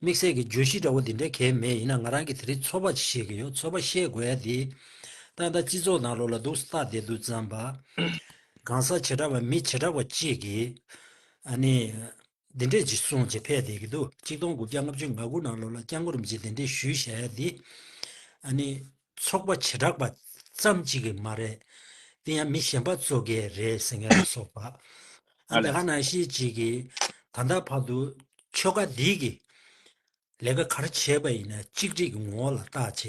དམིགས་བསལ་གྱི་བརྗོད་གཞི་འདྲ་བོ་འདི་འདྲ་གལ་མེད་ཡིན་ན་ང་རང་གིས་དེ་རིང་ཚོར་བ་ཅིག་བཤད་ཀྱི་ཡོད་ཚོར་བ་བཤད་དགོས་ཡ་དེ། ཏག་ཏག་སྤྱི་ཚོགས་ནང་ལོག་ལ་འདུག་ས་ལྟག་བསྡད་འདུག་བརྩམས་པ། གང་ཟག་བྱེ་བྲག་པ་མི་བྱེ་བྲག་པ་གཅིག་གིས། ཨ་ནི། འདི་འདྲས་ཅིག་གསུངས་ཅེས་ཕེབས་བསྡད་ཀྱི་འདུག་གཅིག་སྟོང་དགུ་བརྒྱ་ལྔ་བཅུ་ང་དགུ་ནང་ལོག་ལ་སྐྱག་མགོ་རིམ་གྱིས་འདི་འདྲས་ཞུས་བྱས་ཡ་དེ། ཨ་ནི། ཚོགས་པ་བྱེ་བྲག་པ་ཙམ་གཅིག་གི་མ་རེད། དེ་ཡང་མི་གཞན་པ་གཙོ་གལ་རེད་ཟེར་མཁན་ལ་སོགས་པ། ཨ་འདི་ག་ནང་བཞིན་གཅིག་གིས་ད་ལྟ་བར་དུ་ཆོལ་ཁ་འདིས་ཀྱིས་ལས་ཀ་ག་རེ་བྱས་པ་ཡིན་ན་གཅིག་སྒྲིག་གི་ངོ་བོ་ལ་བརྟག་བྱས་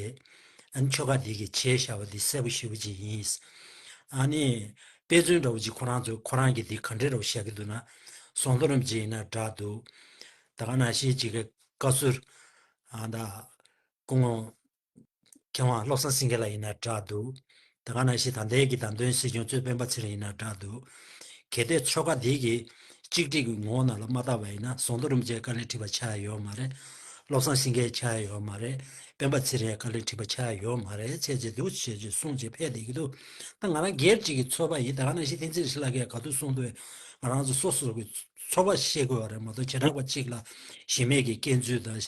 ཨ་ཆོལ་ཁ་འདིས་ཀྱིས་བྱས་ཤ་བ་འདི་གསལ་པོ་ཞིབ་པོ་ཅིག་ཡིན། ཨ་ནི་དཔེ་མཚོན་འདྲ་བོ་ཅིག་ཁོ་རང་ཚོས་ཁོ་རང་གི་འདི་ག་འདྲི་རོགས་བཤད་ཀྱི་འདུག་ན་ཟོང་རྡོ་རིང་ཅིག་ཡིན་ན་འདྲ་འདུག་ད་ག་ནང་བཞིན་གཅིག་གིས་བཀའ་ཟུར་ཨ་ད་སྐུ་ངོ། མཁས་དབང་བློ་བཟང་སེང་གེ་ལ་ཡིན་ན་གྲགས་འདུག། ད་ག་ན་ཞིག་དང་འདས་ཀྱི་དང་དོན་སྲིད་སྐྱོང་གཙོས་སྤེན་པ་ཚེ་རིང་ཡིན་ན་གྲགས་འདུག། གལ་ཏེ་ཆོལ་ཁ་འདི་གི་གཅིག་སྒྲིག་གི་ངོ་བོ་ནང་ལ་མ་བརྟགས་པ་ཡིན་ན་ཟོང་དུ་རིམ་བཅས་དཀའ་ལས་འཁྲི་བ་ཆགས་ཡས་ཡོད་མ་རེད། བློ་བཟང་སེང་གེ་ཆགས་ཡས་ཡོད་མ་རེད། སྤེན་པ་ཚེ་རིང་ཡང་དཀའ་ལས་འཁྲི་བ་ཆགས་ཡས་ཡོད་མ་རེད་ཚད་ཅིག་འདུག་ཞེས་ཅིག་གསུངས་ཅིག་ཕེབས་བསྡད་ཀྱི་འདུག་ད་ང་རང་སྒེར་གཅིག་གི་ཚོར་བ་ཡིན་ད་ག་ན་ཞིག་བསྟན་འཛིན་ཞི་ལ་ཀས་ག་དུས་གསུངས་འདུག་བས་ང་རང་ཚོ་སོ་སོ་གི་ཚོར་བ་བཤད་དགོས་པ་རེད་མ་གཏོགས་བྱེ་བྲག་པ་གཅིག་ལ་གཞི་མེད་ཀྱི་སྐྱེ་མཛུད་དང།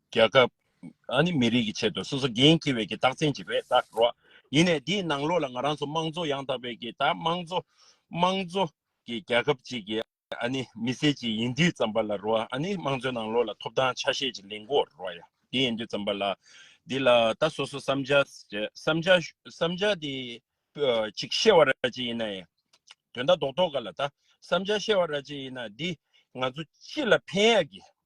རྒྱལ་ཁབ། ཨ་ནི་མི་རིགས་ཀྱི་ཆེད་དུ་སོ་སོ་འགན་འཁྱེར་བའི་གི་རྟགས་མཚན་ཅིག་རེད་ད་རོ། ཡིན་ནས་དེའི་ནང་ལོགས་ལ་ང་རང་ཚོ་དམངས་གཙོ་ཡང་དག་པའི་གི་ད་དམངས་གཙོ། དམངས་གཙོ། གི་རྒྱལ་ཁབ་ཅིག་གི་ཨ་ནི་མི་སེར་ཅིག་ཡིན་དུས་ཙམ་པ་ལ་རོ་ཨ་ནི་དམངས་གཙོའི་ནང་ལོགས་ལ་ཐོབ་ཐང་ཆ་ཤས་ཅིག་ལེན་དགོས་རོ་ཡ་དེ་ཡིན་དུས་ཙམ་པ་ལ། འདི་ལ་ད་སོ་སོ་བསམ་འཆར། བསམ་འཆར། བསམ་འཆར་དེ། ཅིག་བཤད་བ་ར་ཅིག་ཡིན་ན་ཡ། དོན་དག་རྡོག་རྡོག་ག་ལ་ད་བསམ་འཆར་བཤད་བ་ར་ཅིག་ཡིན་ན་འདི་ང་ཚོ་ཅི་ལ་ཕན་ཡ་གི་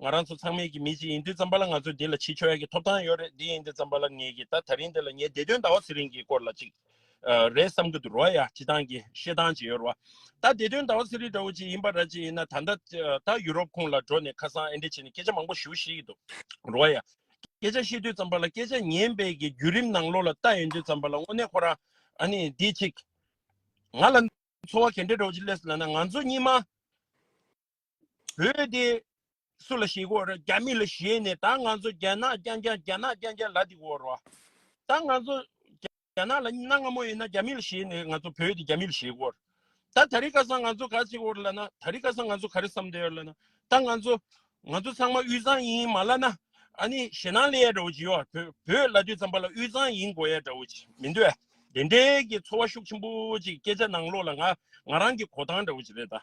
ང་རང་ཚོ་ཚང་མས་ཀྱི་མི་གཅིག་ཡིན་དུས་ཙམ་པ་ལ་ང་ཚོས་འདི་ལ་ཕྱི་ཆོལ་ཡ་གི་ཐོབ་ཐང་ཡོད་རེད་འདི་ཡིན་དུས་ཙམ་པ་ལ་ངེད་ཀྱིས་ད་ད་རིང་འདི་ལ་ངའི་བདེ་དོན་ཟླ་བ་ཚེ་རིང་གི་སྐོར་ལ་ཅིག་རེད་བསམ་གི་འདུག་རོ་ཡ་ཅི་ཐང་གི་ཤེས་ཐང་ཅིག་ཡོད་རོ། ད་བདེ་དོན་ཟླ་བ་ཚེ་རིང་འདྲ་བོ་ཅིག་ཡིན་པ་ར་ཅིག་ཡིན་ན་ད་ད་ད་ཡུ་རོབ་ཁུངས་ལ་འགྲོ་ནས་ཁ་སང་ཨེ་འདྲ་བྱས་ནས་སྐད་ཆ་མང་པོ་ཞུ་ཤེས་ཀྱི་འདུག་རོ་ཡ། སྐད་ཆ་བཤད་དུས་ཙམ་པ་ལ་སྐད་ཆ་ཉན་པའི་གི་བརྒྱུད་རིམ་ནང་ལོགས་ལ་ལྟ་ཡོང་དུས་ཙམ་པ་ལ་དངོས་གནས་ཁོ་རང་ཨ་ནི་འདི་ཅིག་ང་ལ་འཚོ་བ་གན་འདྲ་འདྲ་བོ་ཅིག་སླེབས་སོང་ན་ང་ཚོ་གཉིས་མ་བོད་དེ། སུ་ལ་ཞེས་བསྒོ་ར་རྒྱ་མི་ལ་བཞེས་ནས་ད་ང་ཚོ་རྒྱ་ནག་རྐྱང་རྐྱང་རྒྱ་ནག་རྐྱང་རྐྱང་ལ་དེ་བསྒོ་ར། ད་ང་ཚོ་རྒྱ་ནག་ལ་གནའ་སྔ་མོ་ཡིན་ན་རྒྱ་མི་ལ་བཞེས་ནས་ང་ཚོ་བོད་དེ་རྒྱ་མི་ལ་བཞེས་བསྒོ་ར། ད་ད་རི་ཁ་སང་ང་ཚོ་ག་ཚེ་བསྒོ་ར་ལ་ན་ད་རི་ཁ་སང་ང་ཚོ་ག་རེ་བསམ་འདོད་ཡོད་ལ་ན་ད་ང་ཚོ་ང་ཚོ་ཚང་མ་དབུས་གཙང་ཡིན་མ་ལ་ན་ཨ་ནི་ཞེ་སྣང་ལེ་ཡ་འདྲ་བོ་ཅིག་ཡོད་བོད་བོད་ལ་དུས་ཙམ་པ་ལ་དབུས་གཙང་ཡིན་དགོས་ཡ་འདྲ་བོ་ཅིག་མི་འདོད་དེ་འདྲའི་གི་ཚོར་བ་ཤུགས་ཆེན་པོ་ཅིག་སྐད་ཆ་ནང་ལོག་ལ་ང་ང་རང་གི་གོ་ཐང་འདྲ་བོ་ཅིག་རེད་ད།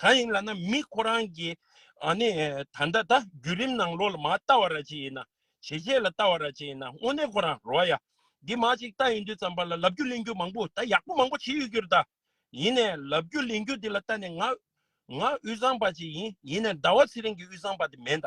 གང་ཡིན་ལ་ན་མི་ཁོ་རང་གི་ནི་ད་ལྟ་ད་རྒྱུད་རིམ་ནང་ལོགས་ལ་མ་ལྟ་བ་ར་ཅི་ཡིན་ན་ཇེ་རྗེས་ལ་ལྟ་བ་ར་ཅི་ཡིན་ན་དངོས་གནས་ཁོ་རང་རོ་ཡ་འདི་མ་ཅིག་ལྟ་ཡིན་དུས་ཙམ་པ་ལ་ལབ་རྒྱུ་གླེང་རྒྱུ་མང་པོ་ད་ཡག་པོ་མང་པོ་བྱེད་ཡོད་རྒྱུ་ར་ད་ཡིན་ནས་ལབ་རྒྱུ་གླེང་རྒྱུ་འདི་ལ་ལྟ་ནས་ང་ང་དབུས་གཙང་པ་ཅིག་ཡིན་ཡིན་ནས་ཟླ་བ་ཚེ་རིང་གི་དབུས་གཙང་པ་དེ་མེད་ད།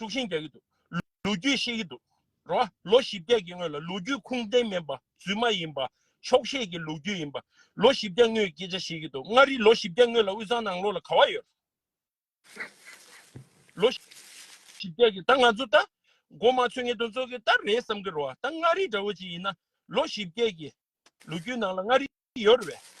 དཀྲུག་ཤིང་རྒྱག་གི་འདུག་ལོ་རྒྱུས་ཤེས་ཀྱི་འདུག་རེད་བ། ལོ་བཞི་བརྒྱད་ཀྱི་སྔོན་ལ་ལོ་རྒྱུས་ཁུངས་ལྡན་མིན་པ་རྫུན་མ་ཡིན་པ། ཆོག་ཤེས་ཀྱི་ལོ་རྒྱུས་ཡིན་པ། ལོ་བཞི་བརྒྱ་སྔོན་སྐད་ཆ་བཤད་ཀྱི་འདུག་མངའ་རིས་ལོ་བཞི་བརྒྱ་སྔོན་ལ་དབུས་གཙང་ནང་ལོགས་ལ་ག་བ་ཡོད། ལོ་བཞི་བརྒྱ་ཀྱི་ད་ང་ཚོ་ད་མགོ་མ་ཚོས་ངེས་དོན་རྩོད་ཀྱི་ད་རེད་བསམ་གྱི་རེད་བ། ད་མངའ་རིས་འདྲ་བོ་ཅིག་ཡིན་ན་ལོ་བཞི་བརྒྱད་ཀྱི་ལོ་རྒྱུས་ནང་ལ་མངའ་རིས་ཡོད་རེད་བས།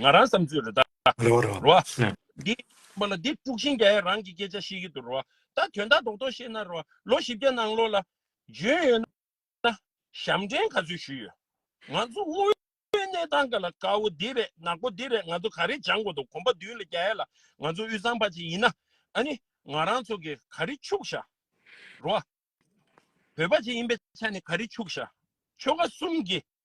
ང་རང་བསམ་ཚུལ་རེ་ད་རོ་རོ། རོ། འདི། ཨ་མ་ལ་འདི་དཀྲུགས་ཤིང་རྒྱ་ཡ་རང་གི་སྐད་ཆ་ཤེས་ཀྱི་འདུག་རོ། ད་དོན་དག་རྡོག་རྡོག་བཤད་ན་རོ། ལོ་བཞི་བརྒྱ་ནང་ལོགས་ལ། བྱོན་ཡོད་ན། ཞབས་འདྲེན་ག་ཚོད་ཞུས་ཡོད། ང་ཚོ་དབུས་བོད་གནས་སྟངས་ག་ལ་དཀའ་བོ་འདི་རེད་ནག་པོ་འདི་རེད་ང་ཚོ་ག་རེ་སྦྱང་དགོས་འདུག་གོམ་པ་མདུན་ལ་རྒྱ་ཡ་ལ་ང་ཚོ་དབུས་གཙང་པ་ཅིག་ཡིན་ན། ཨ་ནི། ང་རང་ཚོ་གི་ག་རེ་ཕྱུག་ཤ། རོ། བོད་པ་ཅིག་ཡིན་པའི་ཆ་ནས་ག་རེ་ཕྱུག་ཤ། ཆོལ་ཁ་གསུམ་གྱི།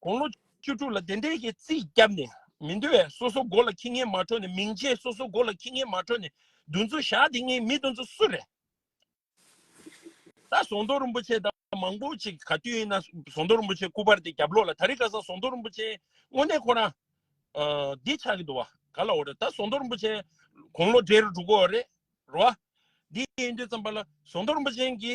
དགུང་ལོ་བཅུ་དྲུག་ལ་བདེན་བྲལ་གྱི་རྩིས་བརྒྱབ་ནས་མི་འདོད་བས་སོ་སོ་མགོ་ལ་ཁྱི་ངན་མ་འཕྲོ་ནས་མིང་ཆད་སོ་སོ་མགོ་ལ་ཁྱི་ངན་མ་འཕྲོ་ནས་འདུ་འཛོ་བཞག་འདི་ངའི་མི་འདུ་འཛོ་སུ་རེད་ད་ཟོང་རྡོ་རིན་པོ་ཆེ་དང་མང་པོ་ཅིག་ག་དུས་ཡིན་ན་ཟོང་རྡོ་རིན་པོ་ཆེ་སྐུ་པར་དེ་རྒྱབ་ལོག་ལ་ད་རི་ག་ཟང་ཟོང་རྡོ་རིན་པོ་ཆེ་དངོས་གནས་ཁོ་རང་འདི་ཆགས་ཀྱི་འདུག་བ་ག་ལ་འོ་རེད་ད་ཟོང་རྡོ་རིན་པོ་ཆེ་དགུང་ལོ་བགྲེས་རུ་འགྲོ་གོ་རེད་རོ་བ་འདི་ཡིན་དུས་ཙམ་པ་ལ་ཟོང་རྡོ་རིན་པོ་ཆེན་གྱི་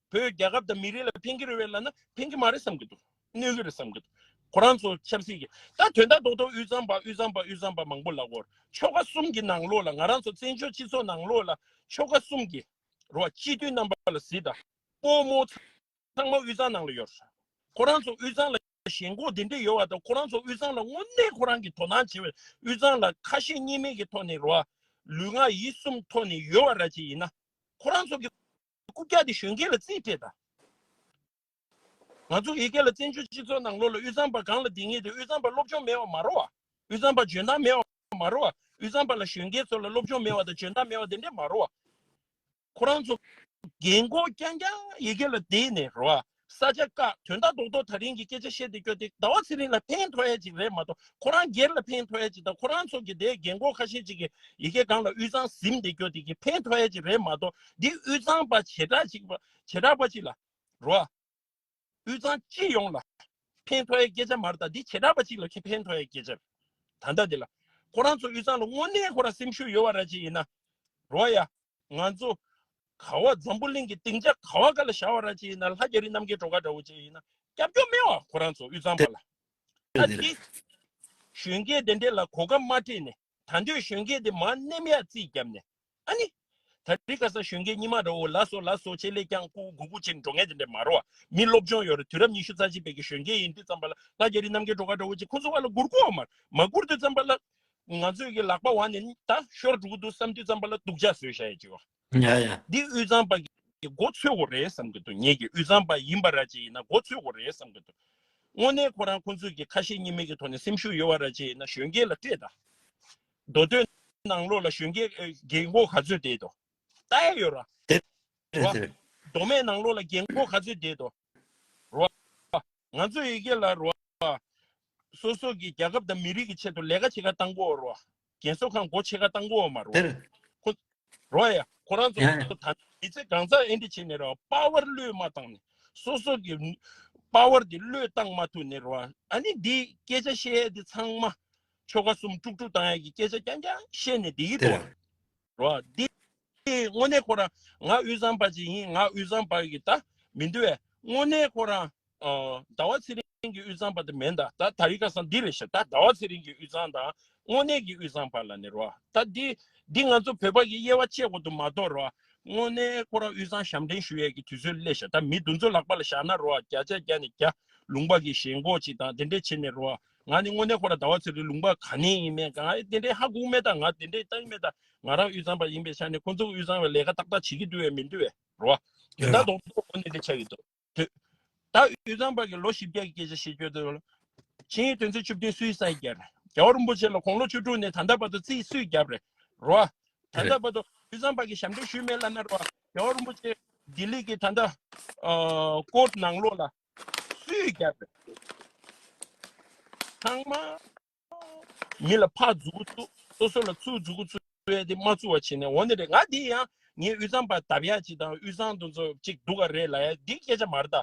བོད་རྒྱལ་ཁབ་དང་མི་རིགས་ལ་ཕན་གྱི་རེད་བས་ལ་ན་ཕན་གྱི་མ་རེད་བསམ་གྱི་འདུག་གནོད་གི་རེད་བསམ་གྱི་འདུག་ཁོ་རང་ཚོ་ཆབ་སྲིད་ཀྱི་ད་དོན་དག་རྡོག་རྡོག་དབུས་གཙང་པ་དབུས་གཙང་པ་དབུས་གཙང་པ་མང་པོ་ལ་གོར་ཆོ་ག་གསུམ་གྱི་ནང་ལོགས་ལ་ང་རང་ཚོ་བཙན་བྱོལ་སྤྱི་ཚོགས་ནང་ལོགས་ལ་ཆོ་ག་གསུམ་གྱི་རོ་སྤྱི་མཐུན་རྣམ་པ་ལ་གཟིགས་དང་སྤོ་མོ་ཚང་མ་དབུས་གཙང་ནང་ལ་ཡོད་རེད་ཁོ་རང་ཚོ་དབུས་གཙང་ལ་ཞེན་ཁོག་དེ་འདྲས་ཡོད་བ་དང་ཁོ་རང་ཚོ་དབུས་གཙང་ལ་དངོས་གནས་ཁོ་རང་གི་དོ་སྣང་བྱེད་བའི་དབུས་གཙང་ལ་ཁ་ཞེ་གཉིས་མེད་ཀྱི་ཐོག་ནས་རོ་ལུས་ངག་ཡིད་གསུམ་ཐོག་ནས་ཡོད་བ་ར་ཅི་ཡིན་ན་ཁོ་རང་ཚོ་གི། རྐུབ་བཀྱགས་ཏེ་གཞོན་སྐྱེས་ལ་རྩིས་སྤྲད་དང། ང་ཚོ་ཡི་གེ་ལ་བཙན་བྱོལ་སྤྱི་ཚོགས་ནང་ལོ་ལ་དབུས་གཙང་པ་གང་ལ་དེ་ངེས་ཏེ་དབུས་གཙང་པར་སློབ་སྦྱོང་མེད་བ་མ་རོ་བ། དབུས་གཙང་པར་འཇོན་ཐང་མེད་བ་མ་རོ་བ། དབུས་གཙང་པ་ལ་གཞོན་སྐྱེས་ཚོ་ལ་སློབ་སྦྱོང་མེད་བ་དང་འཇོན་ཐང་མེད་བ་དེ་འདྲས་མ་རོ་བ། ཁོ་རང་ཚོ་རྒན་གོག་རྐྱང་རྐྱང་ཡི་གེ་ལ་བསྡད་ནས་རོ་བ། ས་ཆ་བཀག་དོན་ལྟ་རྟོག་ཐོག་ད་རིང་གི་སྐད་ཆ་བཤད་དེ་སྐྱོ་སྟེ་ཟླ་བ་ཚེ་རིང་ལ་ཕན་ཐོགས་ཡས་ཅིག་རེད་མ་གཏོགས་ཁོ་རང་སྒེར་ལ་ཕན་ཐོགས་ཡས་ཅིག་དང་ཁོ་རང་ཚོ་གི་སྡེའི་རྒན་རྒོན་ཁ་ཤས་ཅིག་གི་ཡི་གེ་སྒང་ལ་དབུས་གཙང་གཟིམས་དེ་སྐྱོ་དེ་གི་ཕན་ཐོགས་ཡས་ཅིག་རེད་མ་གཏོགས་འདི་དབུས་གཙང་པ་བྱེ་བྲག་ཅིག་པ་བྱེ་བྲག་པ་ཅིག་ལ་རོ་ཨ། དབུས་གཙང་སྤྱི་ཡོངས་ལ་ཕན་ཐོགས་ཡས་སྐད་ཆ་མ་རེད་ད་འདི་བྱེ་བྲག་པ་ཅིག་ལ་ཁེ་ཕན་ཐོགས་ཡས་སྐད་ཆ་རེད་ད་ལྟ་འདི་ལ་ཁོ་རང་ཚོ་དབུས་གཙང་ལ་དངོས་གནས་ཁོ་རང་སེམས་ཤུགས་ཡོད་བ་ར་ཅིག་ཡིན་ན་རོ་ཨ་ཡ། ང་ཚོ་ག་བ་འཛམ་བུ་གླིང་གི་སྡིངས་ཆ་ག་བ་ག་ལ་བཞག་བ་རང་ཅི་ཡིན་ན་ལྷ་རྒྱ་རི་རྣམ་རྒྱལ་གྲོ་ག་འདྲ་བོ་ཅི་ཡིན་ན་སྐྱབས་མགྱོགས་སྨེ་བ་ཁོ་རང་ཚོ་དབུས་གཙང་པ་ལ་ཨ་ཏི་གཞོན་སྐྱེས་དེ་འདྲས་ལ་གོ་སྐབས་མ་སྤྲད་ནས་ད་འདོད་གཞོན་སྐྱེས་དེ་མ་སྣེམ་ཡག་རྩིས་བརྒྱབ་ནས་ཨ་ནི་ད་རི་ག་ས་གཞོན་སྐྱེས་རྙི་མ་ར་འོ་ལ་སོ་ལ་སོ་ཆེ་ལེ་རྐྱང་ཀུ་གུ་གུ་ཆིན་འགྲོ་ངན་དེ་འདྲས་མ་རོ་བ་མི་སློབ་སྦྱོང་ཡོད་རེ་དུས་རབས་ཉི་ཤུ་རྩ་གཅིག་པའི་གཞོན་སྐྱེས་ཡིན་དུས་ཙམ་པ་ལ་ལྷ་རྒྱ་རི་རྣམ་རྒྱལ་གྲོ་ག་འདྲ་བོ་ཅི་ཁོ་ཚོ་བ་ལ་སྒུར་གོ་བ་མ་མ་སྒུར་དུས་ཙམ་པ་ལ་ང་ཚོས་ཀྱི་ལག་པ་བ་ནི་ད་ཤོར་འགྲོ་གི་འདུག་བསམ་དུས་བརྩམས་པ་ལ་སྡུག་ཅག་བཟོས་ཤ་ཡ་ཅིག་ཨོ། ཡ་ཡ། འདི་དབུས་གཙང་པ་གི་མགོ་འཚོས་གོ་རེད་བསམ་གི་འདུག་ངེད་ཀྱི་དབུས་གཙང་པ་ཡིན་པ་ར་ཅི་ཡིན་ན་མགོ་འཚོས་གོ་རེད་བསམ་གི་འདུག་དངོས་གནས་ཁོ་རང་ཁོ་ཚོས་ཀྱི་ཁ་ཞེ་གཉིས་མེད་ཀྱི་ཐོག་ནས་སེམས་ཤུགས་ཡོད་བ་ར་ཅི་ཡིན་ན་གཞོན་སྐྱེས་ལ་སྤྲད་ད། མདོ་སྟོད་ནང་ལོགས་ལ་གཞོན་སྐྱེས་རྒས་མགོ་ག་ཚོད་བསྡད་དོ། ལྟ་ཡ་ཡོད་ར། རེད་རེད། མདོ་སྨད་ནང་ལོགས་ལ་རྒས་མགོ་ག་ཚོད་བསྡད་དོ། རོ་ཨ། ང་ཚོས་ཡི་གེ་ལ་རོ་ཨ། སོ་སོ་གི་རྒྱལ་ཁབ་དང་མི་རིགས་ཀྱི་ཆེད་དུ་ལས་ཀ་བྱེད་ཁ་དང་པོ་རོ་ཨ། རྒན་གསོ་ཁང་སྒོ་ཕྱེ་ཁ་དང་པོ་མ་རོ་ཨ། དེར། ཁོ། རོ་ཨ། ཁོ་རང་ཚོ་ཡང། ད་ནི་མི་ཚེ་གང་ཟག་ཨེ་འདྲི་བྱེད་ནི་རོ་ཨ། དཔའ་བར་བློས་མ་བཏང་ནི། སོ་སོ་གི། དཔའ་བར་དེ་བློས་བཏང་མ་ཐུབ་ནི་རོ་ཨ། ཨ་ནི་འདི་སྐད་ཆ་བཤད་ཡས་དེ་ཚང་མ། ཆོ་ག་གསུམ་དཀྲུག་དཀྲུག་བཏང་ཡས་ཀྱི་སྐད་ཆ་རྐྱང་རྐྱང་བཤད་ནི་འདི་ཡིད་དེར། དོ། རོ། འདི་དངོས་གནས་ཁོ་རང་ང་དབུས་གཙང་པ་ཅིག་ཡིན་ང་དབུས་གཙང་པ་གི་ད་མི་འདི་བས་དངོས་གནས་ཁོ་རང་ཟླ་བ་ཚེ་རིང་གི་དབུས་གཙང་པ་ད་མེད་ད་ད་རི་ཁ་སང་འདི་རེད་ཤག་ད་ཟླ་བ་ཚེ་རིང་གི་དབུས་གཙང་དང་དངོས་གནས་ཀྱི་དབུས་གཙང་པ་ལ་ནི་རོ་ད་འདི་འདི་ང་ཚོ་བོད་པ་གི་དབྱེ་བ་བཅད་དགོས་དུ་མ་གཏོགས་རོ་དངོས་གནས་ཁོ་རང་དབུས་གཙང་ཞབས་འདྲེན་ཞུ་ཡས་ཀྱི་དུས་ཚོད་སླེ་ཤག་ད་མི་འདུ་འཛོ་ལག་པ་ལ་བཞག་ན་རོ་བརྒྱ་ཆ་བརྒྱ་ནས་བརྒྱ་ལུང་པ་གི་ཞེན་གོག་ཅིག་དང་དེ་འདྲས་བྱེད་ནས་རོ། ང་ནི་དངོས་གནས་ཁོ་ལ་ཟླ་བ་ཚེ་རིང་ལུང་པ་ག་ནས་ཡིན་མེད་ག་ང་ཡི་དེ་འདྲའི་ཧ་གོ་མེད་ད་ང་དེ་འདྲའི་ལྟ་ཡི་མེད་ད་ང་རང་དབུས་གཙང་པ་ཡིན་པའི་ཆ་ནས་ཁོ་ཚོ་དབུས་གཙང་བའི་ལས་ཀ་ཏག་ཏག་བྱེད་ཀྱི་འདུག་བས་མི་འདུག་བས་རེད་བ། དེ་རེད་ལྟ་བ། དོག་པོ་ངོ་ནས་དེ་ཆགས་ཀྱི་འདུག་དུས། ད་དབུས་གཙང་པ་གི་ལོ་བཞི་བརྒྱད་ཀྱི་སྐད་ཆ་ཞེས་བརྗོད་དུས། ཆིང་ཡིས་དོན་ཚན་བཅུ་བདུན་སུའི་སར་བརྒྱབ། རྒྱལ་བ་རིན་པོ་ཆེ་ལ་དགུང་ལོ་བཅུ་དྲུག་ནས་ད་ལྟ་བར་དུ་རྩིས་སུས་བརྒྱབ། རེད་བ། ད་དེ་རེད། ལྟ་བར་དུ་དབུས་གཙང་པ་གི་ཞབས་འདེགས་ཞུས་མེད་བླ་ན་རེད་བ། རྒྱལ་བ་རིན་པོ་ཆེ་ལྡི་ལི་གི་ད་ལྟ། ཨ། སྐོར་ནང་ལོགས་ལ་སུས་ཀྱང་ཚང་མ་ཡིད་ལ་ཕག་འཛུགས་ཀུ་ཚུགས་སོ་སོ་ལ་ཚུགས་འཛུགས་ཀུ་ཚུགས་ཡོད་དེ་མ་ཚུགས་བ་བྱེད་ནས་འོ་ནི་རེད་ང་དེ་ཡང་ངའི་དབུས་གཙང་པ་འདབ་ཡག་ཅིག་དང་དབུས་གཙང་དུ་ཚོ་ཅིག་འདུག་ག་རེད་ལ་ཡ་འདི་སྐད་ཆ་མར་ད་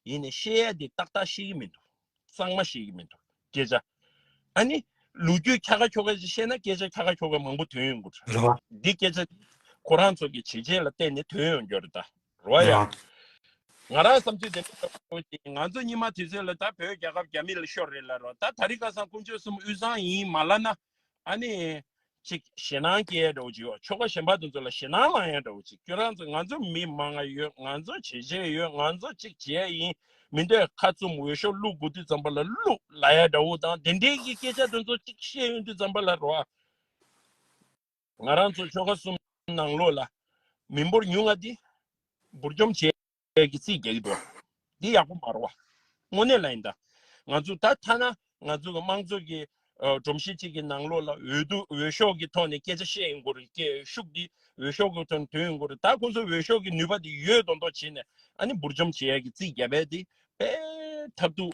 ཡིན་ནས་བཤད་ཡ་འདི་ཏག་ཏག་ཤེས་ཀྱི་མི་འདུག་གཙང་མ་ཤེས་ཀྱི་མི་འདུག་སྐད་ཆ་ཨ་ནི་ལུ་གུ་ཁ་ཁ་ཁྱོ་ཁ་ཅིག་བཤད་ན་སྐད་ཆ་ཁ་ཁ་ཁྱོ་ཁ་མང་པོ་དོན་ཡོང་གི་རེད་རེད་འདི་སྐད་ཆ་འདི་ཁོ་རང་ཚོ་གི་བྱས་རྗེས་ལ་བརྟེན་ནས་དོན་ཡོང་རྒྱུ་རེད་ད། རོ་ཡ། ང་རང་བསམ་ཚུལ་དེ་འདྲ་ལྟ་བུ་ཡོང་ཞིང་ང་ཚོ་གཉིས་མ་དུས་ཚོད་ལ་ད་བོད་རྒྱལ་ཁབ་རྒྱ་མི་ལ་ཤོར་རེད་ལ་རོ་ད་ད་རི་ཁ་སང་དཀོན་མཆོག་གསུམ་དབུས་གཙང་ཡིན་མ་ལ་ན་ཨ་ནི་ཅིག་ཞེ་ནང་སྐྱེ་ཡ་འདྲ་བོ་ཅིག་ཡོད་ཆོལ་ཁ་ཞེན་པ་དེ་ཚོ་ལ་ཞེ་ནང་ལངས་ཡ་འདྲ་བོ་ཅིག་ཁྱོད་རང་ཚོ་ང་ཚོ་མི་མང་ང་ཡོད་ང་ཚོ་བྱེད་བྱེད་ཡོད་ང་ཚོ་ཅིག་བྱེད་ཡ་ཡིན་མི་འདོད་ཁ་བཙུམ་འོས་ཤོག་བླུག་དགོས་དུས་ཙམ་པ་ལ་བླུག་ལ་ཡ་འདྲ་བོ་དང་དེ་འདྲའི་གི་སྐད་ཆ་དེ་ཚོ་ཅིག་བཤད་ཡོང་དུས་ཙམ་པ་ལ་རོ། ང་རང་ཚོ་ཆོལ་ཁ་གསུམ་ནང་ལོགས་ལ་མི་འབོར་ཉུང་ང་འདི་འབུར་འཇོམ་བྱས་ཀྱི་རྩིས་རྒྱག་གི་འདུག་འདི་ཡག་པོ་མ་རོ་བ་དངོས་གནས་ལ་ཡིན་ད་ང་ཚོ་ད་ཐ་ན་ང་ཚོ་གི་དམངས་གཙོ་གི་སྒྲོམ་གཞི་གཅིག་གི་ནང་ལོགས་ལ་འོས་བསྡུ་འོས་ཤོག་གི་ཐོག་ནས་སྐད་ཆ་བཤད་ཡིན་གོར་སྐད་ཤུགས་འདི་འོས་ཤོག་གི་ཐོག་ནས་དོན་ཡིན་གོར་ད་ཁོང་ཚོ་འོས་ཤོག་གི་ནུས་པ་འདི་ཡོད་མདོག་མདོག་བྱས་ནས་ཨ་ནི་འབུར་འཇོམ་བྱས་ཀྱི་རྩིས་རྒྱག་པའི་འདི་དཔེ་ཐབས་འདུག།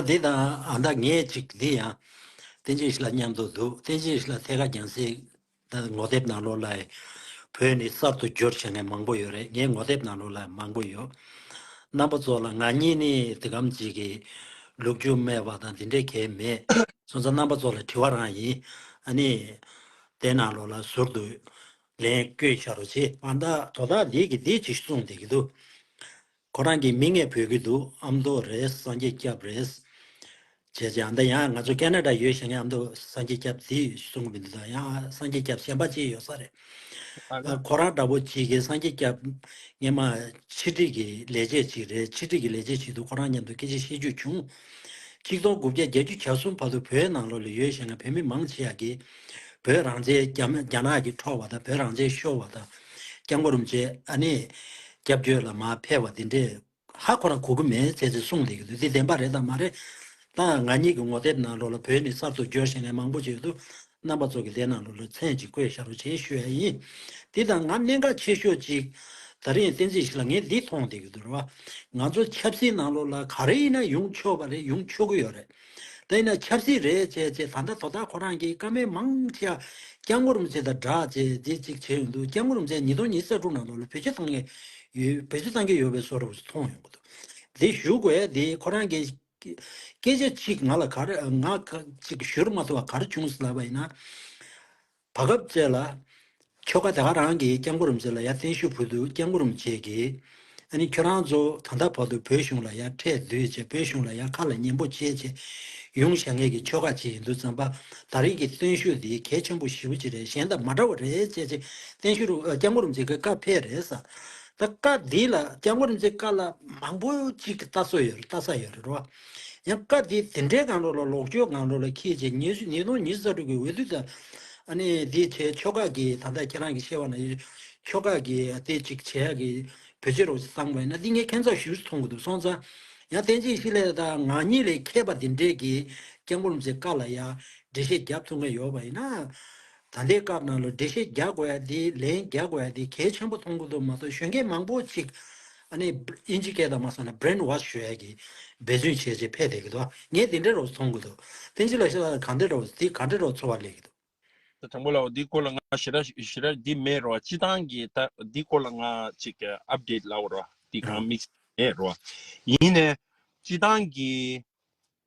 ད་དེ་དང་ཨ་མདའ་ངས་ཅིག་འདི་ཡང། བསྟན་བཅོས་ཤིག་ལ་སྙམ་དུ་འདུག་བསྟན་བཅོས་ཤིག་ལ་ཐད་ཀར་རྒྱང་བསྲིངས། ད་ངོ་དེབ་ནང་ལོགས་ལའི། བོད་ནི་གསར་དུ་སྦྱོར་བྱེད་མཁན་མང་པོ་ཡོད་རེད་ངའི་ངོ་དེབ་ནང་ལོགས་ལའི་མང་པོ་ཡོད། རྣམ་པ་ཚོ་ལ་ང་གཉིས་ནི་འདི་གམ་ཅིག་གིས། ལུག་ཁྱུ་སྨད་པ་དང་འདི་འདྲས་གལ་མེད། སོང་ཙང་རྣམ་པ་ཚོ་ལ་དྲི་བ་རང་ཡིན། ཨ་ནི། དེ་ནང་ལོགས་ལ་ཟུར་དུ། ལན་བསྐྱོན་བྱ་རོགས་ཅི། ཨ་མདའ་དོ་བདག་འདིས་གིས་འདིས་ཅིག་གསུངས་བསྡད་ཀྱི་འདུག། ཁོ་རང་གིས་མིག་སྔས་བོས་ཀྱི་འདུག་ཨ་མདོ་རེད་སངས་རྒྱས་སྐྱབས་རེད། བྱས་རྗེས་ཨ་མདའ་ཡང་ང་ཚོ་ཀ་ན་ཀྲ་ཡོད་བཞག་ངས་ཨ་མདོ་སངས་རྒྱས་སྐྱབས་འདི་གསུངས་མི་འདུག་ད་ཡང་ཨ་སངས་རྒྱས་སྐྱབས་གཞན་པ་ཅིག་ཡོད་ས་རེད། ཨ་ཁོ་རང་འདྲ་བོ་ཅིག་གིས་སངས་རྒྱས་སྐྱབས་ངས་མ་ཕྱི་དྲིལ་གྱི་ལས་བྱེད་ཅིག་རེད་ཕྱི་དྲིལ་གྱི་ལས་བྱེད་ཅིག་འདུག་ཁོ་རང་མཉམ་དུ་སྐད་ཅིག་བཤད་རྒྱུ་བྱུང། ཆིག་སྟོང་དགུ་བརྒྱ་བརྒྱད་ཅུ་གྱ་གསུམ་བར་དུ་བོད་ནང་ལོགས་ལ་ཡོད་བཞེངས་བའི་བོད་མི་མང་ཆེ་ཡག་གི། བོད་རང་བཅས་རྒྱ་ནག་གི་འཕྲོག་བ་དང་བོད་རང་བཅས་ཤོར་བ་དང། རྐྱང་པོ་རུམ་བཅས་ཨ་ནེ། རྒྱབ་བསྐྱོད་ལ་མ་ཕེབས་བ་འདི་འདྲས་ཧ་གོ་རང་གོ་གི་མེད་ཚེ་ཚེ་གསུངས་བསྡད་ཀྱི་འདུག་འདི་བདེན་པ་རེད་དང་མ་རེད། ད་ང་ཉིད་ཀྱི་ངོ་དེབ་ནང་ལོགས་ལ་བོད་ནི་གསར་དུ་འབྱོར་བཞེངས་མང་པོ་ཅིག་ཡོད་འདུག་རྣམ་པ་ཚོ་གི་ལས་ནང་ལོ་ལོ་ཚན་གཅིག་བཀོད་ཤག་རུ་ཆེན་ཞུ་ཡ་ཡིན། འདི་དང་ང་གནད་འགག་ཆེ་ཤོས་གཅིག་ད་རིང་བསྟན་རྩིས་ཞིག་ལ་ངས་འདི་མཐོང་བསྡད་ཡོད་དུ་ར་བ། ང་ཚོ་ཆབ་སྲིད་ནང་ལོ་ལ་ག་རེ་ཡིན་ན་ཡོང་ཆོག་པ་རེ་ཡོང་ཆོག་གི་ཡོད་རེད། ད་ཡིན་ན་ཆབ་སྲིད་རེད་བྱས་རྗེས་ད་ལྟ་དོ་བདག་ཁོ་རང་གིས་བཀའ་མའི་མང་ཆ་སྐྱག་ངོ་རུམ་ཚེ་དང་སྦྲགས་བྱས་རྗེས་གཅིག་བྱས་ཡོང་འདུག་སྐྱག་ངོ་རུམ་ཚེ་ཉིས་སྟོང་ཉིས་ས་དྲུག་ནང་ལོ་ལ་བེད་སྤྱོད་བཏང་གི་ཡོད་བེད་སྤྱོད་བཏང་གི་ཡོད་པའི་སོ་རུ་མཐོང་ཡོང་གི་འདུག་འདི་ཞུ་དགོས་དེ་ཁོ་རང་གིས། སྐད་ཆ་གཅིག་ང་ལ་གར་ང་གཅིག་ཞུར་མ་ཐུབ་པ་གར་བྱུང་ཟླ་བ་ཡིན་ན། བ་སྐབས་བཅས་ལ། ཁྱོ་ག་དེ་ག་རང་གིས་སྐྱབས་མགོ་རུམ་བྱེད་ལ་ཡ་བརྟན་བཞུགས་བོད་དུ་སྐྱབས་མགོ་རུམ་བྱེད་ཀྱི། ཨ་ནི་ཁྱོད་རང་ཚོ་ད་ལྟ་བར་དུ་བོད་གཞུང་ལ་ཡ་འཕྲད་དུས་ཆེ་བོད་གཞུང་ལ་ཡ་ཁ་ལ་ཉན་པོ་ཆེ་ཆེ་ཡོང་བཞག་ངེད་ཀྱི་ཁྱོ་ག་གཅིག་ཡིན་དུས་ཙམ་པ་ད་རིང་གི་བརྟན་བཞུགས་འདི་གལ་ཆེན་པོ་ཞིབ་པོ་ཅིག་རེད་གཞན་དང་མ་འདྲ་བ་རེད་བྱས་ཆེ་བརྟན་བཞུགས་རུ་སྐྱབས་མགོ་རུམ་བྱེད་ཀྱི་སྐབས་ཕེབས་རེད་ས། ད་བཀའ་འདི་ལ་སྐྱབས་མགོན་རིན་ཆེན་བཀའ་ལ་མང་པོ་ཅིག་གི་ལྟ་སྲོལ་ཡོད་ལྟ་ས་ཡོད་རེད་རོ། ཡང་བཀའ་འདི་དེ་འདྲའི་གང་རུང་ལ་ལོག་ཆོས་གང་རུང་ལ་ཁྱེད་ཀྱིས་ཉེས་ཞུ་ཉེས་རྡུང་ཉེས་བཟའ་དྲུག་གི་འོས་བསྡུ་དང། ཨ་ནི་འདི་བྱས་ཆོ་ག་གི་ད་ལྟ་ཁྱེད་རང་གི་ཤེས་བ་ན་ཡོད་ཆོ་ག་གི་དེ་ཅིག་བྱས་ཡག་གི་བོད་ཕྱི་རོགས་སུ་བཏང་བས་ན་འདི་ངས་ཁེན་ཚགས་ཞུས་སུ་མཐོང་གི་འདུག་སོང་ཙང། ཡང་བསྟན་བྱའི་གཤིས་ལས་དང་ངག་ཉིད་ལས་མཁས་པ་འདི་འདྲས་ཀྱིས་སྐྱབས་མགོན་རིན་ཆེན་བཀའ་ལ་ཡང་འགྲེལ་བཤད་རྒྱབ་ཐུག་མཁན་ཡོད་པ་ཡིན་ན། ད་ལྟའི་སྐབས་ནང་ལོ་འགྲེལ་བཤད་རྒྱག་དགོས་ཡ་དེ་ལན་རྒྱག་དགོས་ཡ་དེ་གལ་ཆེན་པོ་མཐོང་གི་འདུག་མ་གཏོགས་གཞོན་སྐྱེས་མང་པོ་ཅིག་ཨ་ནི་དབྱིན་ཇི་སྐད་དང་མ་སོང་ན Brain Wash བྱོས་ཡ་གི་འབད་བརྩོན་བྱས་བྱས་ཕེད་བསྡད་གི་འདུག་ངས་དེ་འདྲའི་རོགས་སུ་མཐོང་གི་འདུག་བསྟན་འཛིན་ལ་ཤ་ཚ་ན་གང་འདྲའི་རོགས་དེ་ག་འདྲའི་རོགས་འཚོ་བ་ལས་གི་འདུག། དང་པོ་ལའོ་འདི་སྐོར་ལ་ང་ཞེ་དྲག་ཞེ་དྲག་འདི་མེད་རོ་སྤྱི་སྟངས་ཀྱི་ལྟ་འདི་སྐོར་ལ་ང་ཅིག Update ལའོ་རོ་འདི་གང་དམིགས་བསལ་མེད་རོ་ཡིན་ནས་སྤྱི་སྟངས་ཀྱི་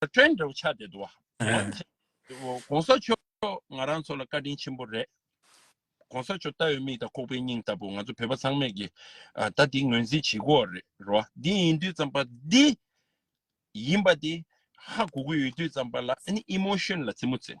བཀྲ་འདྲ་བོ་ཆགས་བསྡད་འདུག་བ། གོང་ས་མཆོག་ང་རང་ཚོ་ལ་བཀའ་དྲིན་ཆེན་པོ་རེད། གོང་ས་མཆོག་ལྟ་བའི་མིག་དང་ཁོག་པའི་སྙིང་ལྟ་བུ་ང་ཚོ་བོད་པ་ཚང་མས་ཀྱི་ད་འདི་ངོས་འཛིན་བྱེད་དགོས་བ་རེད་བ། འདི་ཡིན་དུས་ཙམ་པ་འདི་ཡིན་པ་དེ་ཧ་གོ་གི་ཡོད་དུས་ཙམ་པ་ལ་ཨ་ནི་ཨི་མོ་ཤོན་ལ་རྩེད་མོ་རྩེད།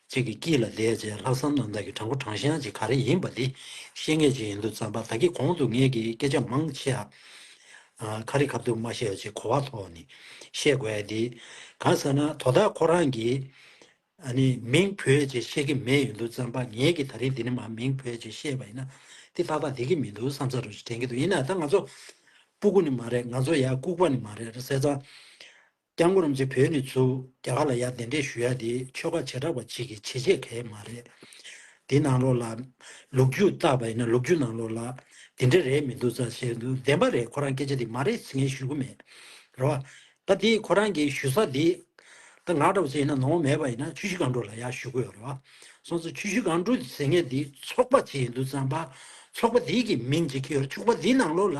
ཁྱེད་ཀྱི་སྐྱིད་ལ་ལས་བྱས་ལྷག་བསམ་རྣམ་དག་གི་དྲང་པོ་དྲང་བཞག་ཅིག་ག་རེ་ཡིན་པ་འདི་ཤེས་ངེས་ཅིག་ཡིན་འདུག་རྩམ་པ་ད་ཁྱེད་གོང་དུ་ངེད་ཀྱིས་སྐད་ཆ་མང་བཤད་ཨ། ཁ་རི་ཁ་ཐུག་མ་བཤད་ཅེས་གོ་བ་ཐོག་ནས་བཤད་དགོས་ཨ་འདི། གང་ཟེར་ན་དོ་བདག་ཁོ་རང་གིས་ཨ་ནི་མིང་བོད་ཅེས་བཤད་ཀྱི་མེད་ཡིན་འདུག་རྩམ་པ་ངེད་ཀྱིས་ད་རིང་འདི་ནི་མ་མིང་བོད་ཅེས་བཤད་པ་ཡིན་ན་འདི་ཏག་ཏག་བསྡད་ཀྱི་མི་འདུག་བསམ་ས་རུ་དྲན་གྱི་འདུག་ཡིན་ན་ད་ང་ཚོ་སྤུ་ཀུ་ནི་མ་རེད་ང་ཚོ་ཡ་ལྐུགས་པ་ནི་མ་རེད་ཟེར་ཙང། སྐྱག་མགོ་རུམ་ཚེ་བོད་ནས་ཚུར་རྒྱ་གར་ལ་ཡར་གདན་འདྲེན་ཞུ་ཡ་དེ་ཆོལ་ཁ་བྱེ་བྲག་པ་གཅིག་གི་བྱེད་སྤྱད་གལ་མ་རེད། དེ་ནང་ལོགས་ལ། ལུག་རྒྱུ་བཏགས་པ་ཡིན་ན་ལུག་རྒྱུ་ནང་ལོགས་ལ། དེ་འདྲ་རེད་མི་འདུག་ཚ་བྱས་འདུག་བདེན་པ་རེད་ཁོ་རང་སྐད་ཆ་དེ་མ་རེད་ཟེར་མཁན་ཞུ་གི་མེད། རེད་བ། ད་དེ་ཁོ་རང་གི་ཞུ་ས་དེ། ད་ང་འདྲ་བོ་ཚོས་ཡིན་ན་ནོར་བ་མེད་པ་ཡིན་ན་ཆུ་བཞི་སྒང་དྲུག་ལ་ཡར་ཞུ་གི་ཡོད་རེད་བ། སོང་ཚེ་ཆུ་བཞི་སྒང་དྲུག་ཟེར་མཁན་དེ་ཚོགས་པ་གཅིག་ཡིན་འདུག་ཚངས་པ། ཚོགས་པ་དེ་གི་མིང་གཅིག་གི་ཡོད་ཚོགས་པ་དེ་ནང་ལོགས་ལ།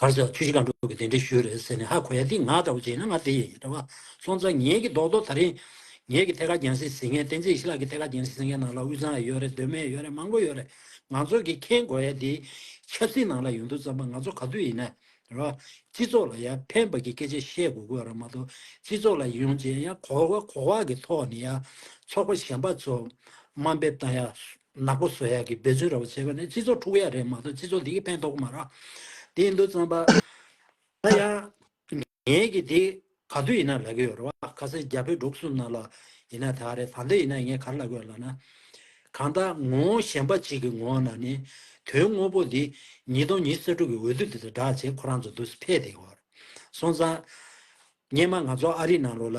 གར་ཟེར་བ་ཆུ་བཞི་སྒང་དྲུག་གི་དེ་འདྲའི་ཤུལ་རེད་ཟེར་ནས་ཧ་གོ་ཡ་འདི་ང་འདྲ་བོ་བྱས་ན་ང་དེ་ཡིན་འདྲ་བ་སོང་ཙང་ངེད་ཀྱི་རྡོག་རྡོག་ད་རིང་ངེད་ཀྱི་ཐད་ཀ་རྒྱང་སྲིང་ཟིང་ངེ་བསྟན་འཛིན་ཞི་ལགས་ཀྱི་ཐད་ཀ་རྒྱང་སྲིང་ཟིང་ངེ་ནང་ལ་དབུས་གཙང་ཡ་ཡོད་རེད་གདོད་མའི་ཡ་ཡོད་རེད་མང་པོ་ཡོད་རེད་ང་ཚོ་གིས་མཁྱེན་གོ་ཡ་འདི་ཆབ་སྲིད་ནང་ལ་ཡོང་དུས་རྩམ་པ་ང་ཚོ་ག་དུས་ཡིན་ན་རེད་བ་སྤྱི་ཚོགས་ལ་ཡ་ཕན་པ་གྱི་སྐད་ཆ་བཤད་གོ་དགོས་རེད་མ་གཏོགས་སྤྱི་ཚོགས་ལ་ཡོང་རྗེས་ཡ་གོ་བ་གོ་བ་གི་ཐོག་ནས་ཡ་ཚོགས་པ་གཞན་པ་ཚོ་དམའ་འབེབས་དང་ཡ། ནག་པོ་བཟོ་ཡག་གི་འབད་བརྩོན་ར་བ་བྱེད་པ་ནི་སྤྱི་ཚོགས་འཁྲུག་ཡག་རེད་མ་གཏོགས་སྤྱི་ཚོགས་འདི་གི་ཕན་ཐོག་གི་མ་རག་དེ་ཡིན་དུ་བརྩམས་པ་ད་ཡང་ངས་ཀྱི་དེ་ག་དུས་ཡིན་ན་ལབ་གི་ཡོད་རེད་བ་ཁ་སེ་རྒྱ་བོད་འབྲུག་གསུམ་ནང་ལ་ཡིན་ན་དེ་ག་རེད་ད་འདི་ཡིན་ན་ངས་ག་རེ་ལབ་གི་ཡོད་ལབ་ན་གང་ལྟ་ངོ་བོ་གཞན་པ་ཅིག་གི་ངོ་བོ་ན་ནི་དོན་དངོས་པོ་འདི་ཉིས་སྟོང་ཉིས་སོ་དྲུག་གི་འོས་བསྡུ་དེ་དང་སྦྲགས་བྱེད་ཁོ་རང་ཚོ་འདུག་ཕེད་དེ་ག་རེད་སོང་ཙང། སྙེ་མ་ང་ཚོ་ཨ་རི་ནང་ལོག་ལ།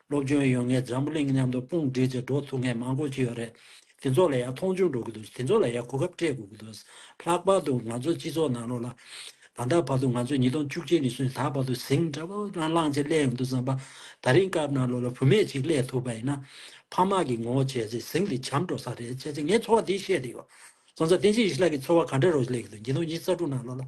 སློབ་སྦྱོང་ཡོད་ངེས་འཛམ་བུ་གླིང་མཉམ་དུ་དཔུང་སྒྲིག་ཚེ་འགྲོ་ཐུབ་མཁན་མང་པོ་ཞིག་ཡོད་རེད། དེ་ཚོ་ལ་ཡང་མཐོང་ཆུང་འགྲོ་གི་འདུག་དེ་ཚོ་ལ་ཡང་གོ་སྐབས་སྤྲད་དགོས་ཀྱི་འདུག་ལྷག་པར་དུ་ང་ཚོ་སྤྱི་ཚོགས་ནང་ལོགས་ལ། ད་ལྟ་བར་དུ་ང་ཚོས་ཉིས་སྟོང་བཅུ་གཅིག་ནས་བཟུང་ད་བར་དུ་ཟིང་འདྲ་པོ་རང་བླངས་ཅིག་སླེབས་ཡོང་འདུག་བསམ་པ། ད་རིང་སྐབས་ནང་ལོགས་ལ་བུད་མེད་ཅིག་སླེབས་ཐུབ་པ་ཡིན་ན། ཕ་མ་གིས་ངོ་བོ་བྱས་ཚེ་ཟིང་དེ་བྱམས་འགྲོ་ས་རེད་བྱས་ཚེ་ངས་འཚོ་བ་འདི་ཤེས་ཀྱི་ཡོད། སོང་ཙང་བསྟན་འཇིགས་ཡེ་ཤེས་ལགས་ཀྱི་འཚོ་བ་ག་འདྲ་རོགས་ཞིག་སླེབས་ཀྱི་འདུག་ཉིས་སྟོང་གཉིས་ས་དྲུག་ནང་ལོགས་ལ།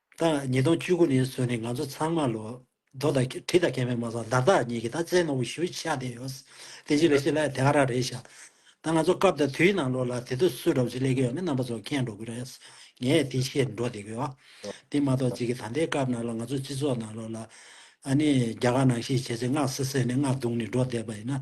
བདག་ཉིས་སྟོང་བཅུ་དགུ་ནས་བཟུང་ནས་ང་ཚོ་ཚང་མ་ལོ་རྡོ་དང་གྲི་དང་མཁལ་མའི་མ་སོགས་བདག་བདག་གཉིས་ཀྱི་ད་ཙའི་ནོར་བུ་ཞུ་ཆ་དེ་ཡོད། དེ་རྗེས་ལས་བྱེད་ལ་དེ་ཨ་རག་རེད་བྱ། ད་ང་ཚོ་སྐབས་དང་དུས་ནང་ལོག་ལ་དེ་དུས་སུ་གྲོགས་ཅིག་ལས་ཀི་ཡོད་མེད་རྣམ་པ་ཚོ་ཁེངས་འགྲོ་གི་རེད། ངས་དེ་ཤེས་འགྲོ་བསྡད་གི་ཡོད། དེ་མ་གཏོགས་རྗེས་ཀྱི་ད་ལྟའི་སྐབས་ནང་ལོག་ང་ཚོ་སྤྱི་ཚོགས་ནང་ལོག་ལ། ཨ་ནི་རྒྱ་གར་ནང་ཤེས་བྱེད་ཚོས་སྔགས་བསྲེ་བསྲེ་ནས་སྔགས་བརྡུང་ནས་འགྲོ་བསྡད་པ་ཡིན་ན།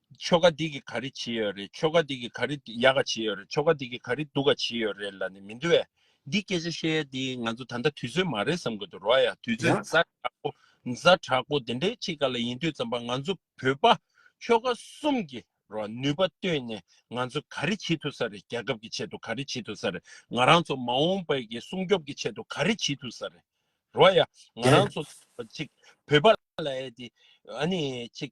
ཆོ་ག་འདི་གི་ག་རེ་བྱེད་ཡོད་རེད་ཆོ་ག་འདི་གི་ག་རེ་ཡག་ག་བྱེད་ཡོད་རེད་ཆོ་ག་འདི་གི་ག་རེ་སྡུག་ག་བྱེད་ཡོད་རེད་ལ་ནི་མི་འདུ་བས་འདི་སྐད་ཆ་བཤད་ཡ་འདི་ང་ཚོ་ད་ལྟ་དུས་ཚོད་མ་རེད་བསམ་དགོས་འདུག་རོགས་ཡ་དུས་ཚོད་ཡང། མཛའ་དྲག་པོ་མཛའ་དྲག་པོ་འདི་འདྲའི་ཆེད་ག་ལ་ཡིན་དུས་ཙམ་པ་ང་ཚོ་བོད་པ་ཆོ་ག་གསུམ་གྱི་རོགས་ནུས་པ་བཏོན་ནས་ང་ཚོ་ག་རེ་བྱེད་ཐུབ་ས་རེད་རྒྱལ་ཁབ་ཀྱི་ཆེད་དུ་ག་རེ་བྱེད་ཐུབ་ས་རེད་ང་རང་ཚོ་མ་འོངས་པའི་གི་སྲུང་སྐྱོབ་ཀྱི་ཆེད་དུ་ག་རེ་བྱེད་ཐུབ་ས་རེད་རོགས་ཡ་ང་རང་བརྒྱད། ཚོ་ཅིག་བོད་པ་ལ་ཡ་འདི་ཨ་ནི་ཅིག་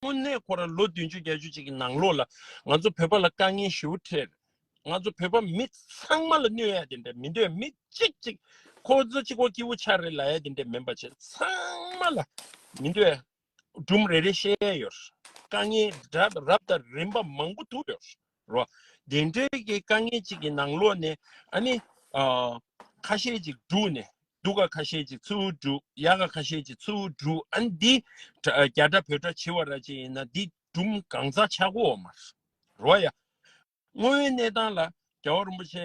དངོས་གནས་ཁོ་རང་ལོ་བདུན་ཅུ་བརྒྱད་ཅུ་ཅིག་གི་ནང་ལོགས་ལ་ང་ཚོ་བོད་པ་ལ་དཀའ་ངལ་ཞི་བོ་འཕྲད། ང་ཚོ་བོད་པ་མི་ཚང་མ་ལ་གནོད་ཡ་དེ་འདྲ་མི་འདོད་མི་གཅིག་གཅིག་ཁོ་ཚོ་གཅིག་གོ་སྐྱིད་བོ་ཆགས་རེད་ལ་ཡ་དེ་འདྲ་མིན་པ་བྱས་ཚང་མ་ལ་མི་འདོད་སྦྲུམ་རེ་རེ་བཤད་ཡ་ཡོད། དཀའ་ངལ་རབ་དང་རིམ་པ་མང་པོ་ཐུག་ཡོད། རོ། བདེ་འགྲོའི་གི་དཀའ་ངལ་ཅིག་གི་ནང་ལོག་ནས་ཨ་ནི། ཁ་ཤས་ཅིག་བསྒྲུགས་ནས་སྡུག་ག་ཁ་ཤས་ཅིག་ཚུར་བསྒྲུགས་ཡག་ག་ཁ་ཤས་ཅིག་ཚུར་བསྒྲུགས་ཨ་ནི་འདི། རྒྱ་དགྲ་བོད་དགྲ་བྱི་བ་ར་ཅིག་ཡིན་ན་འདི་སྦྲུམ་གང་ཚ་ཆག་གོ་མ་རོ་ཡ། དངོས་བོའི་གནས་སྟངས་ལ་རྒྱལ་བ་རིན་པོ་ཆེ་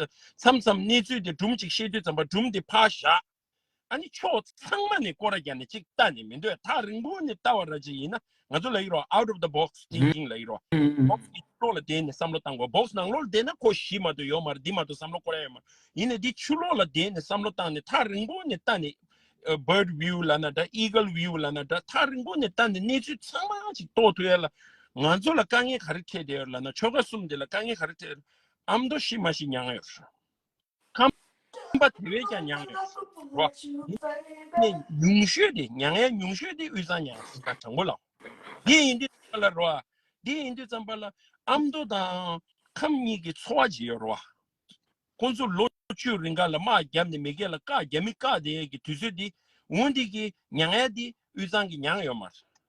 མཚམས་མཚམས་གནས་ཚུལ་དེ་སྦྲུམ་ཅིག་ཤེས་དུས་ཙམ་པ་སྦྲུམ་དེ་ཕར་བཞག་ཨ་ནི་ཕྱོགས་ཚང་མ་ནས་སྐོར་ར་བརྒྱབ་ནས་ཅིག་ལྟ་ནས་མི་འདོད་ཐག་རིང་པོ་ནས་ལྟ་བ་ར་ཅིག་ཡིན་ན་ང་ཚོ་ལ་ཡིག་རོགས out of the box thinking ལ་ཡིག་རོགས box གི་ཆུ་ལོག་ལ་བསྡད་ནས་བསམ་བློ་བཏང་གོ box ནང་ལོག་ལ་བསྡད་ན་ཁོ་གཞི་མ་དོ་ཡོ་མ་ར་འདི་མ་དོ་བསམ་བློ་སྐོར་ཡ་ཡོད་མ་ཡིན་ན་འདི་ཆུ་ལོག་ལ་བསྡད་ནས་བསམ་བློ་བཏང་ནས་ཐག་རིང་པོ་ནས་ལྟ་ནས bird view ལ་ན་འདྲ eagle view ལ་ན་འདྲ་ཐག་རིང་པོ་ནས་ལྟ་ནས་གནས་ཚུལ་ཚང་མ་ཅིག་རྟོགས་ཐུབ་ཡ་ལ་ང་ཚོ་ལ་དཀའ་ངལ་ག་རེ་འཕྲད་བསྡད་ཡོད་ར་ལ་ན་ཆོལ་ཁ་གསུམ་འདི་ལ་དཀའ་ངལ་ག་རེ་འཕྲད་ཨ་མདོ་ཤི་མ་ཤི་མྱངས་ཡོད། ཁམས་པ་དེ་བས་ཀྱང་མྱངས་ཡོད། རོ། ནས་ཉུང་ཤོས་དེ་མྱངས་ཡ་ཉུང་ཤོས་དེ་དབུས་གཙང་མྱངས་ཡོད་ཀ་དྲང་པོ་ལ། དེ་ཡིན་དུས་ཙམ་པ་ལ་རོ། དེ་ཡིན་དུས་ཙམ་པ་ལ་ཨ་མདོ་དང་ཁམས་གཉིས་ཀྱི་འཚོ་བ་ཇི་ཡོད་རོ། ཁོང་ཚོ་ལོ་བཅུ་རིང་ག་ལ་དམག་རྒྱབ་ནས་མི་སྐད་ལ་བཀག་རྒྱ་མི་བཀག་དེ་ཡས་ཀྱི་དུས་ཚོད་དེ་འུ་འདི་ཀྱི་མྱངས་ཡ་དེ་དབུས་གཙང་གི་མྱངས་ཡོད་མ་རེད།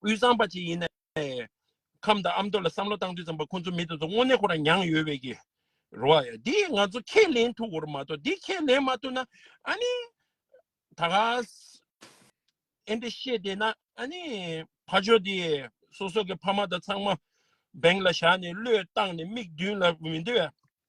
དབུས་གཙང་པ་ཅིག་ཡིན་ནའི། ཁམས་དང་ཨ་མདོ་ལ་བསམ་བློ་བཏང་དུས་ཙམ་པོ་ཁོང་ཚོ་མི་དེ་ཚོ་དངོས་གནས་ཁོ་རང་མྱངས་ཡོད་བས་ཀྱི། རོ་ཨ་ཡ། འདི་ང་ཚོ་ཁས་ལེན་ཐུབ་འོར་མ་གཏོགས་འདི་ཁས་ལེན་མ་ཐུབ་ན། ཨ་ནི། ད་ག། ཨེ་འདི་བཤད་བསྡད་ན་ཨ་ནི། ཕ་ཆོས་འདི། སོ་སོ་གི་ཕ་མ་དང་ཚང་མ། འབེང་ལ་བཞག་ནས་བློས་བཏང་ནས་མིག་མདུན་ལ་མི་འདི་བས།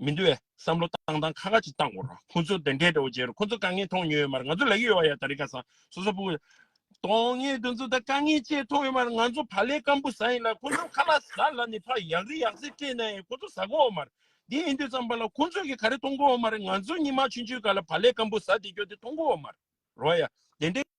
མི་འདུ་བའི་བསམ་བློ་བཏང་དང་ཁ་ཁ་ཅིག་བཏང་གོ་རོགས་ཁོང་ཚོ་དེ་འདྲའི་དྲོ་རྗེ་རུ་ཁོང་ཚོ་དཀའ་ངལ་མཐོང་མྱོང་ཡོད་མར་ང་ཚོ་ལ་ཡོད་བ་ཡ་ད་རི་ཁ་ས་སོ་སོ་པུ། དོན་ངེས་དོན་ཚོ་ད་དཀའ་ངལ་ཅེས་མཐོང་ཡོད་མར་ང་ཚོ་བ་ལས་སྐམ་པུ་ས་ཡིན་ལ་ཁོང་ཚོ་ཁ་ལ་ས་ལ་ནི་ཕག་ཡག་རི་ཡག་སེ་སྤྲད་ན་ཡང་ཁོང་ཚོ་ཟ་གོ་འོ་མར་འདི་ཨེ་འདུས་ཙམ་པ་ལ་ཁོང་ཚོས་གི་ག་རེ་མཐོང་གོ་འོ་མར་ང་ཚོ་གཉིས་མ་ཆུན་ཆུན་ག་ལ་བ་ལས་སྐམ་པུ་ས་འདི་གྱོ་དེ་མཐོང་གོ་འོ་མར་རོ་ཡ་དེ་འདྲའི།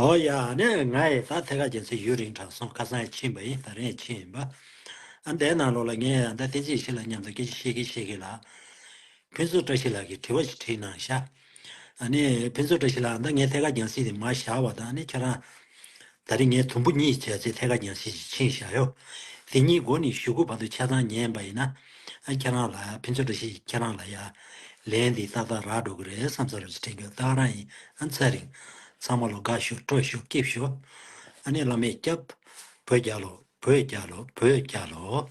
ཨོ་ཡ། ནས་ང་ཡི་ད་ཐེ་ཁ་རྒྱལ་ཚེ་ཡུན་རིང་དྲག་སོང་ཁ་སང་ཡི་ཕྱིན་པ་ཡིན་ད་རེང་ཡི་ཕྱིན་ཡིན་པ། ཨ་འདའི་ནང་ལོག་ལ་ངས་ཡང་ད་ཐེ་ཅིག་ཞིག་ལ་མཉམ་དུ་སྐད་ཅིག་ཤེས་ཀི་ཤེས་ཀི་ལགས། ཕུན་ཚོགས་བཀྲ་ཤིས་ལགས་ཀྱིས་དྲི་བ་ཞིག་དྲིས་གནང་ཤག། ཨ་ནས་ཕུན་ཚོགས་བཀྲ་ཤིས་ལགས་ཨ་མདའ་ངས་ཐེ་ཁ་རྒྱང་སྲིད་དེ་མ་བཞག་བ་དང་ཨ་ནས་ཁྱེད་རང། ད་རེས་ངས་དུམ་བུ་གཉིས་བྱས་ཚེ་ཐད་ཀར་ཉག་གཅིག་ཅིག་ཕྱིན་བཞག་ཡོད། དེ་གཉིས་མགོ་ནས་གཞུ་གུ་བར་དུ་ཆ་ཚང་ཉན་པ་ཡིན་ན། ཁྱེད་རང་ལ་ཕན་ཚུན་འདྲ་ཤེས་ཀྱི་ཁྱེད་རང་ལ་ཡ། ལན་འདི་ཏག་ཏག་རག་འགྲོ་གི་རེད་བསམ་ས་རེད་ཅེས་དྲན་རྒྱུ་ཏག་རང་ཡིན་ཚར་རིང། ཚང་མ་ལོ་དགའ་ཤོག་སྤྲོ་ཤོག་སྐྱིད་ཤོག། ཨ་ནེ་བླ་མས་སྐྱབས། བོད་རྒྱལ་ལོ་བོད་རྒྱལ་ལོ་བོད་རྒྱལ་ལོ།